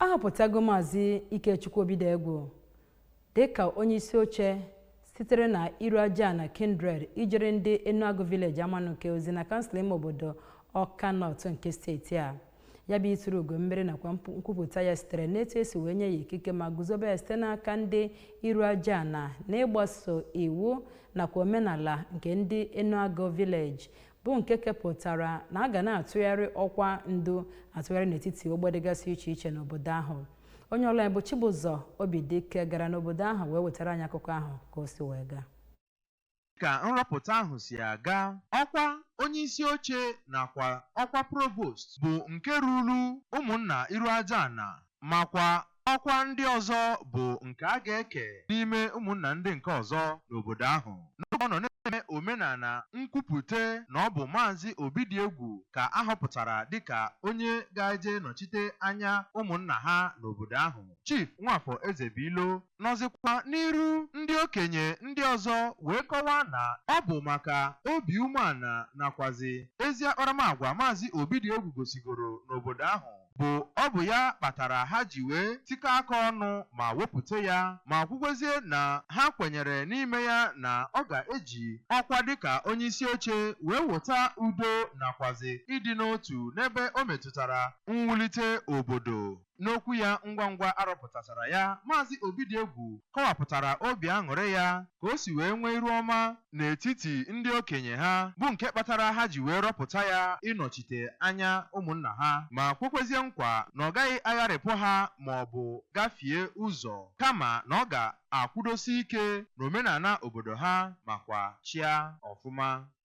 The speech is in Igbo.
ahọpụtago maazị ikechukwu obidiegwu dịka onye isi oche sitere na iruajana kindred ijere ndị enuagụ village amanuke ozi na kansụl ime obodo ọka north nke steeti a ya bụ ituru ugo mmeri nakwa mpu- nkwupụta ya sitere n'etu esi wee nye ya ikike ma guzobe ya site n'aka ndị iruajana n'ịgbaso iwu nakwa omenala nke ndị enuagụ village bụ nke kepụtara na a ga na-atụgharị ọkwa ndu atụgharị n'etiti ogbe dịgasị iche iche n'obodo ahụ onye ọlụ anyị bụ Chibụzọ Obidike gara n'obodo ahụ wee wetara anyị akụkọ ahụ ka o si wee gaa ka nrọpụta ahụ si aga ọkwa onye isi oche nakwa ọkwa provost bụ nke ruru ụmụnna Iruajana makwa ọkwa ndị ọzọ bụ nke a ga-eke n'ime ụmụnna ndị nke ọzọ n'obodo ahụ. N'oge ọ nọ na-eme omenala nkwupụta na ọ bụ Maazị Obidiegwu ka a họpụtara dịka onye ga-eje nọchite anya ụmụnna ha n'obodo ahụ, Chief Nwafọ Ezebuilo nọzịkwa n'iru ndị okenye ndị ọzọ wee kọwaa na ọ bụ maka obi umeala nakwazị ezi akparamagwa Maazị Obidiegwu gosigoro n'obodo ahụ bụ ọ bụ ya kpatara ha ji wee tikọ aka ọnụ ma wepụta ya ma kwukwezie na ha kwenyere n'ime ya na ọ ga-eji ọkwa dịka onyeisi oche wee wota udo nakwazi ịdị n'otu n'ebe o metụtara mwulite obodo. N'okwu ya ngwa ngwa arọpụtachara ya, Maazị Obidiegwu kọwapụtara obi aṅụrị ya ka o si wee nwee iru ọma n'etiti ndị okenye ha bụ nke kpatara ha ji wee rọpụta ya ịnọchite anya ụmụnna ha ma kwekwezie nkwa na ọ gaghị agharịpụ ha ma ọ bụ gafie ụzọ kama na ọ ga-akwụdosi ike n'omenala obodo ha makwa chịa ọfụma.